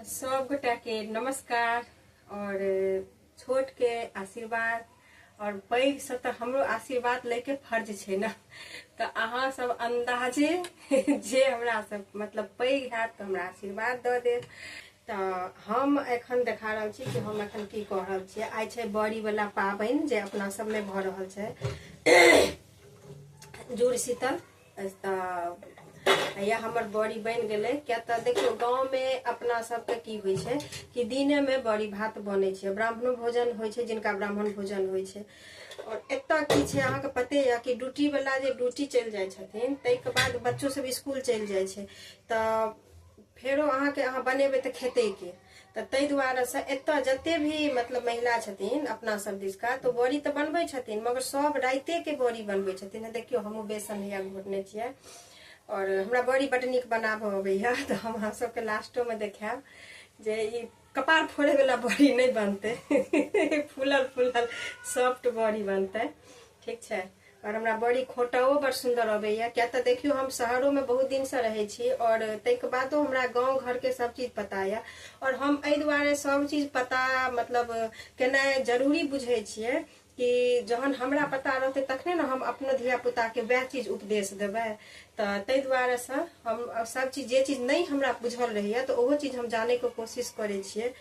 सब गोटा के नमस्कार और छोट के आशीर्वाद और पैघ से तो हमरो आशीर्वाद ले के फर्ज छे ना तो अहाँ सब अंदाजे जे हमरा सब मतलब पैघ है तो हमरा आशीर्वाद द दे तो हम एखन देखा रहा छी कि हम एखन की कह रहा छी आई छे बड़ी वाला पाबन जे अपना सब में भ रहा छे जुड़ शीतल तऽ या हमर बड़ी बनि गेलै किया तऽ देखियौ गाँवमे अपना सबके की होइ छै कि दिनेमे बड़ी भात बनै छै ब्राह्मणो भोजन होइ छै जिनका ब्राह्मण भोजन होइ छै आओर एतय की छै अहाँके पते यऽ कि ड्यूटी वाला जे ड्यूटी चलि जाइ छथिन ताहिके बाद बच्चो सब स्कूल चलि जाइ छै तऽ फेरो अहाँके अहाँ बनेबै तऽ खेतै के तऽ ताहि दुआरे से एतय जते भी मतलब महिला छथिन अपना सब दिशका तऽ बड़ी तऽ बनबै छथिन मगर सब राइते के बड़ी बनबै छथिन देखियौ हमहूँ बेसन हैया घोटने छियै और हमरा बड़ी बड नीक बनाबऽ अबैया तऽ हम अहाँ सबके लास्टो में देखायब जे ई कपार फोड़े वाला बड़ी नहि बनतै फूलल फूलल सॉफ्ट बड़ी बनतै ठीक छै आओर हमरा बड़ी खोटाओ बड़ सुन्दर अबैया किया तऽ देखियौ हम शहरोमे बहुत दिनसँ रहै छी आओर ताहिके बादो हमरा गाँव घरके सब चीज पता यऽ आओर हम एहि दुआरे सब चीज पता मतलब केनाइ जरूरी बुझै छियै कि जहन हमरा पता रहतै तखने ने हम अपनो धियापुताके वएह चीज उपदेश देबै तऽ ताहि दुआरेसँ हम सब चीज जे चीज नहि हमरा बुझल रहैए तऽ ओहो चीज हम जानैके कोशिश करै छियै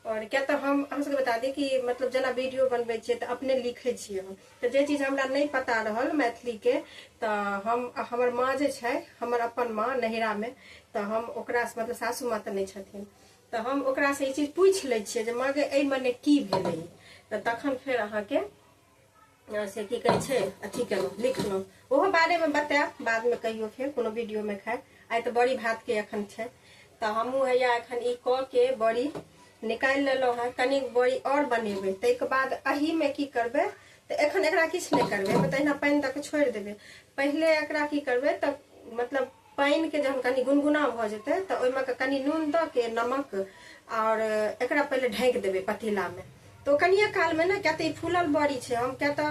आओर किया तऽ हम अहाँ सबके बता दी कि मतलब जेना वीडियो बनबै छियै तऽ अपने लिखै छियै हम तऽ जे चीज हमरा नहि पता रहल मैथिलीके तऽ हम हमर माँ जे छै हमर अपन माँ नैहरामे तऽ हम ओकरासँ मतलब सासू माँ तऽ नहि छथिन तऽ हम ओकरासँ ई चीज पूछि लै छियै जे माँ गे एहि मने की भेलै तऽ तखन फेर अहाँके अ, से की कहै छै अथी केलहुँ लिखलहुँ ओहो बारेमे बतायब बादमे कहियो फेर कोनो वीडियोमे खाय आइ तऽ बड़ी भातके एखन छै तऽ हमहूँ हैया एखन ई कऽ के बड़ी निकालि लेलहुँ हेँ कनिक बड़ी आओर बनेबै ताहिके बाद एहिमे की करबै तऽ एखन एकरा किछु नहि करबै एहिमे तहिना पानि दऽ कऽ छोड़ि देबै पहिले एकरा की करबै तऽ मतलब पानिके जहन कनि गुनगुना भऽ जेतै तऽ ओहिमे के कनि नून दऽ के नमक आओर एकरा पहिले ढाँकि देबै पतीलामे तऽ ओ कनिए कालमे ने किया तऽ ई फूलल बड़ी छै हम किया तऽ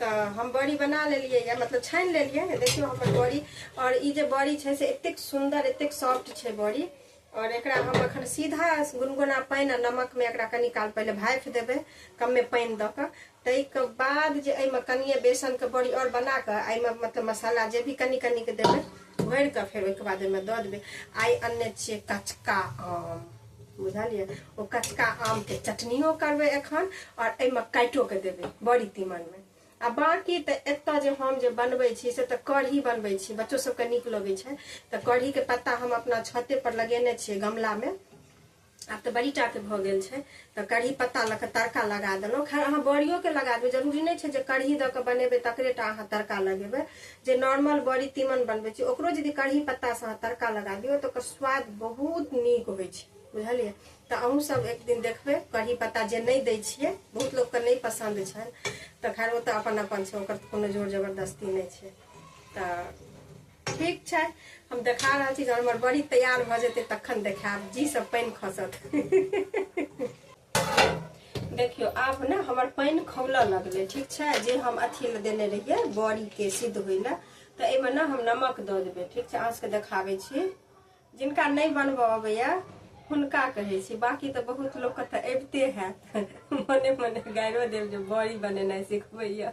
तऽ हम बड़ी बना लेलियै यऽ मतलब छानि लेलियै यऽ देखियौ हमर बड़ी आओर ई जे बड़ी छै से एतेक सुन्दर एतेक सॉफ्ट छै बड़ी आओर एकरा हम एखन सीधा गुनगुना पानि आ नमकमे एकरा कनी काल पहिले भापि देबै कमे पानि दऽ कऽ ताहिके बाद जे एहिमे कनिए बेसनके बड़ी आओर बना कऽ एहिमे मतलब मसाला जे भी कनी कनिके देबै भरि कऽ फेर ओहिके बाद ओहिमे दऽ देबै आइ अनने छियै कचका आम बुझलियै ओ कचका आमके चटनियो करबै एखन आओर एहिमे काटिओके देबै बड़ी तीमनमे आ बाँकी तऽ एतऽ जे हम जे बनबै छी से तऽ कढ़ी बनबै छी बच्चो सबके नीक लगै छै तऽ कढ़ीके पत्ता हम अपना छते पर लगेने छियै गमलामे आब तऽ बड़ी टाके भऽ गेल छै तऽ कढ़ी पत्ता लऽ कऽ तड़का लगा देलहुँ खैर अहाँ बड़ियोके लगा देबै जरूरी नहि छै जे कढ़ी दऽ कऽ बनेबै तकरे टा अहाँ तड़का लगेबै जे नॉर्मल बड़ी तीमन बनबै छी ओकरो यदि कढ़ी पत्तासँ अहाँ तड़का लगा दियौ तऽ ओकर स्वाद बहुत नीक होइ छै बुझलियै तऽ अहूँ सब एक दिन देखबै कढ़ी पत्ता जे नहि दै छियै बहुत लोकके नहि पसन्द छनि तऽ खैर ओ तऽ अपन अपन छै ओकर कोनो जोर जबरदस्ती नहि छै तऽ ठीक छै हम देखा रहल छी जहन हमर बड़ी तैयार भऽ जेतै तखन देखायब जी सब पानि खसत देखियो आब ने हमर पानि खौलऽ लगलै ठीक छै जे हम अथी मे देने रहियै बड़ी के सिद्ध होइ लए तऽ एहिमे ने हम नमक दऽ देबै ठीक छै अहाँ सबके देखाबै छी जिनका नहि बनबऽ अबैया हुनका कहै छी बाकी तऽ बहुत लोक के तऽ अबिते हैत मने मने गाइरो देब जे बड़ी बनेनाइ सिखबैया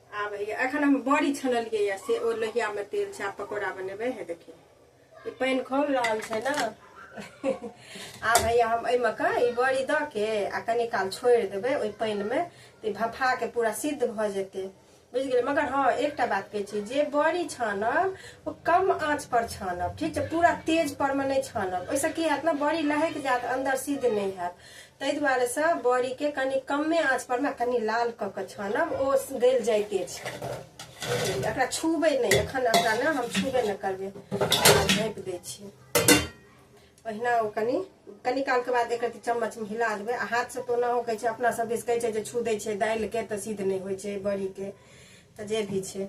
आब हैया एखन हम बड़ी छनलियै यऽ से ओ लोहियामे तेल छै आब पकौड़ा बनेबै हे देखियौ ई पानि खौल रहल छै ने आब हैया हम एहिमे कऽ ई बड़ी दऽ के आ कनी काल छोड़ि देबै ओहि पानिमे तऽ ई भफाके पूरा सिद्ध भऽ जेतै बुझि गेलियै मगर हँ एकटा बात कहै छी जे बड़ी छानब ओ कम आँच पर छानब ठीक छै पूरा तेज परमे नहि छानब ओहिसँ की हैत ने बड़ी लहकि जायत अन्दर सिद्ध नहि हैत ताहि दुआरे से बड़ी के कनि कमे आँच पर ने कनि लाल कऽ के छानब ओ गल जाइते छै एकरा छूबे नहि एखन एकरा ने हम छूबे नहि करबै झाँपि दै छियै ओहिना ओ कनि कनि कालके बाद एक रत्ती चम्मचमे हिला देबै आ हाथसँ तऽ ओना कहै छै अपना सब दिस कहै छै जे छू दै छै दालिके तऽ सिद्ध नहि होइ छै बड़ीके तऽ जे भी छै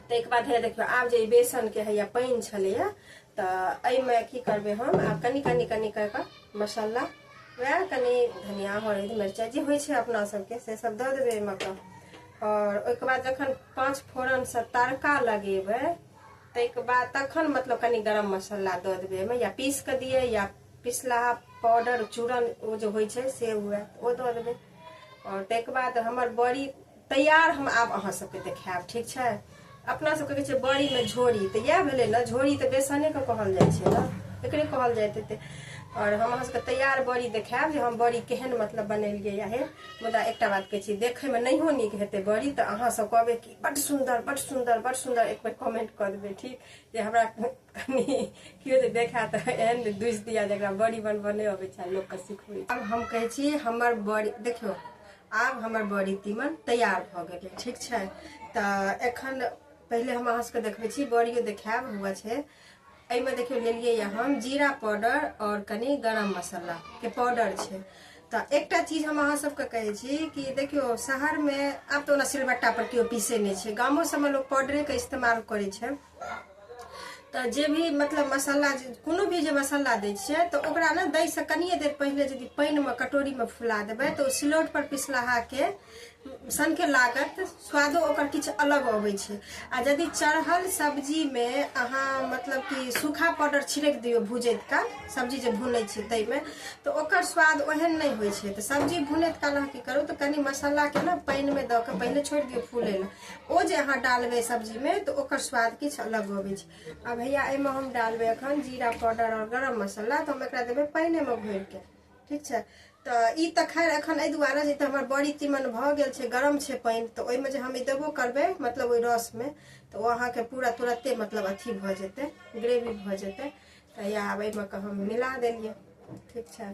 ताहिके बाद है देखियौ आब जे ई बेसनके हैया पानि छलैए तऽ एहिमे की करबै हम आब कनि कनि कनि कऽ कऽ मसाला वएह कनि धनिया हरदि मिरचाइ जे होइ छै अपना सबके से सब दऽ देबै एहिमे कऽ आओर ओहिके बाद जखन पाँच फोरनसँ तड़का लगेबै ताहिके बाद तखन मतलब कनि गरम मसाला दऽ देबै एहिमे या पीस कऽ दियै या पिसला पाउडर चूरन ओ जे होइ छै से हुए ओ दऽ देबै आओर ताहिके बाद हमर बड़ी तैयार हम आब अहाँ सबके देखायब ठीक छै अपना सबके कहै छै बड़ी में झोरी तऽ इएह भेलै ने झोरी तऽ बेसने के कहल जाइ छै ने एकरे कहल जाइत हेतै आओर हम अहाँ सबके तैयार बड़ी देखायब जे हम बड़ी केहन मतलब बनेलियै आहे मुदा एकटा बात कहै छी देखैमे नहियो नीक हेतै बड़ी तऽ अहाँ सब कहबै कि बड सुन्दर बड सुन्दर बड सुन्दर एक बेर कमेंट कऽ देबै ठीक जे हमरा कनी केओ जे देखा तऽ एहन ने दुसि दिया जकरा बड़ी बनबऽ नहि अबै छै लोकके सिखबै आब हम कहै छी हमर बड़ी देखियौ आब हमर बड़ी तीमन तैयार भऽ गेलै ठीक छै तऽ एखन पहिले हम अहाँ सबके देखबै छी बड़ियो देखायब हुआ छै एहिमे देखियौ लेलियै यऽ हम जीरा पाउडर आओर कनी गरम मसालाके पाउडर छै तऽ एकटा चीज हम अहाँ सबके कहै छी कि देखियौ शहरमे आब तऽ ओना सिलबट्टापर केओ पीसै नहि छै गामो सबमे लोक पाउडरेके इस्तेमाल करै छै तऽ जे भी मतलब मसाला जे कोनो भी जे मसाला दै छियै तऽ ओकरा ने दैसँ कनिए देर पहिले यदि पानिमे कटोरीमे फुला देबै तऽ ओ सिलौटपर पिसलाहाके सनके लागत स्वादो ओकर किछु अलग अबै छै आ यदि चढ़ल सब्जीमे अहाँ मतलब कि सूखा पाउडर छिड़क दियौ भुजैत काल सब्जी जे भुनै छियै ताहिमे तऽ ओकर स्वाद ओहन नहि होइ छै तऽ सब्जी भुनैत काल अहाँ की करू तऽ कनि मसालाके ने पानिमे दऽ कऽ पहिले छोड़ि दियौ फूलै लए ओ जे अहाँ डालबै सब्जीमे तऽ ओकर स्वाद किछु अलग अबै छै आ भैया एहिमे हम डालबै एखन जीरा पाउडर आओर गरम मसाला तऽ हम एकरा देबै पानिमे भरिके ठीक छै तऽ ई तऽ खैर एखन एहि दुआरे जे तऽ हमर बड़ी तीमन भऽ गेल छै गरम छै पानि तऽ ओहिमे जे हम ई देबो करबै मतलब ओहि रसमे तऽ ओ अहाँके पूरा तुरते मतलब अथी भऽ जेतै ग्रेवी भऽ जेतै तऽ या आब एहिमे के हम मिला देलियै ठीक छै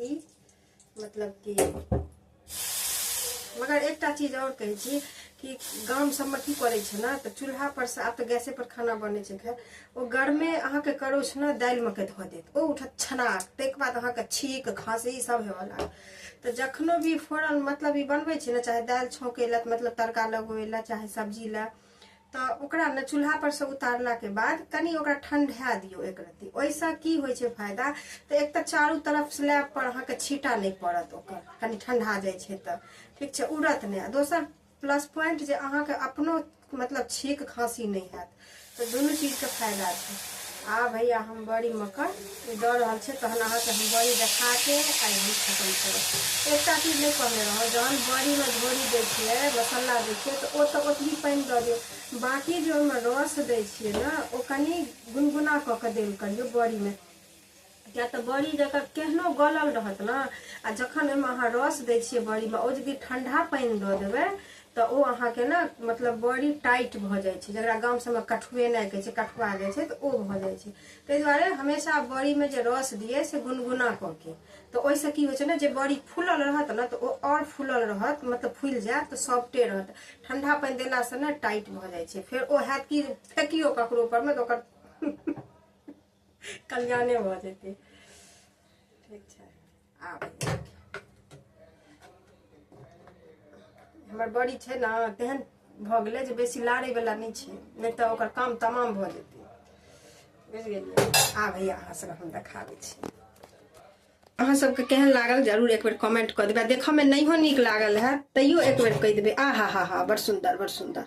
ई मतलब कि मगर एकटा चीज आओर कहै छी कि गाम सबमे की करै छै ने तऽ चूल्हा पर से आब तऽ गैसे पर खाना बनै छै खैर ओ गरमे अहाँके करो छै ने दालिमे के धऽ देत ओ उठत छनाक ताहिके बाद अहाँके छीक खाँसी सब हेवऽ लागत तऽ जखनो भी फोरन मतलब ई बनबै छै ने चाहे दालि छौँकै लए मतलब तड़का लगबै लए चाहे सब्जी लए तऽ ओकरा ने चूल्हा पर से उतारला के बाद कनी ओकरा ठंडा दियो एक रत्ती ओहिसँ की होइ छै फायदा तऽ एक तऽ चारू तरफ स्लैब पर अहाँके छीटा नहि पड़त ओकर कनी ठंडा जाइ छै तऽ ठीक छै उड़त नहि दोसर प्लस पॉइंट जे अहाँके अपनो मतलब छीक खांसी नहि हैत तऽ दुनू चीजके फायदा छै आ भैया हम बड़ी मकर ई दऽ रहल छै तहन अहाँके हम बड़ी देखा के आइ हम खतम करब एकटा चीज नहि कहने रहौँ जहन बड़ीमे झोरी दै छियै मसाला दै छियै तऽ ओ तऽ ओतबी पानि दऽ दियौ बाँकी जे ओहिमे रस दै छियै ने ओ कनि गुनगुना कऽ कऽ देल करियौ बड़ीमे किया तऽ बड़ी जकर केहनो गलल रहत ने आ जखन ओहिमे अहाँ रस दै छियै बड़ीमे ओ यदि ठंडा पानि दऽ देबै तऽ ओ अहाँके ने मतलब बड़ी टाइट भऽ जाइ छै जकरा गाम सबमे कठुएनाइ कहै छै कठुआ जाइ छै तऽ ओ भऽ जाइ छै ताहि दुआरे हमेशा बड़ी में जे रस दिए से गुनगुना कऽ के तऽ ओहिसँ की होइ छै ने जे बड़ी फूलल रहत ने तऽ ओ आओर फूलल रहत मतलब फूलि जायत तऽ सॉफ्टे रहत ठंडा पानि देलासँ ने टाइट भऽ जाइ छै फेर ओ हैत कि फेकियो ककरो पर मे तऽ ओकर कल्याणे भऽ जेतै ठीक छै आब हमर बड़ी छै ने तेहन भऽ गेलै जे बेसी लाड़यवला नहि छै नहि तऽ ओकर काम तमाम भऽ जेतै बुझि गेलियै आब हैया अहाँ सभके हम देखा दै छी अहाँ सभके केहन लागल जरूर एक बेर कमेंट कऽ देबै देखऽमे नहियो नीक लागल है तैयो एक बेर कहि देबै आ हा हा हा बड़ सुन्दर बड़ सुन्दर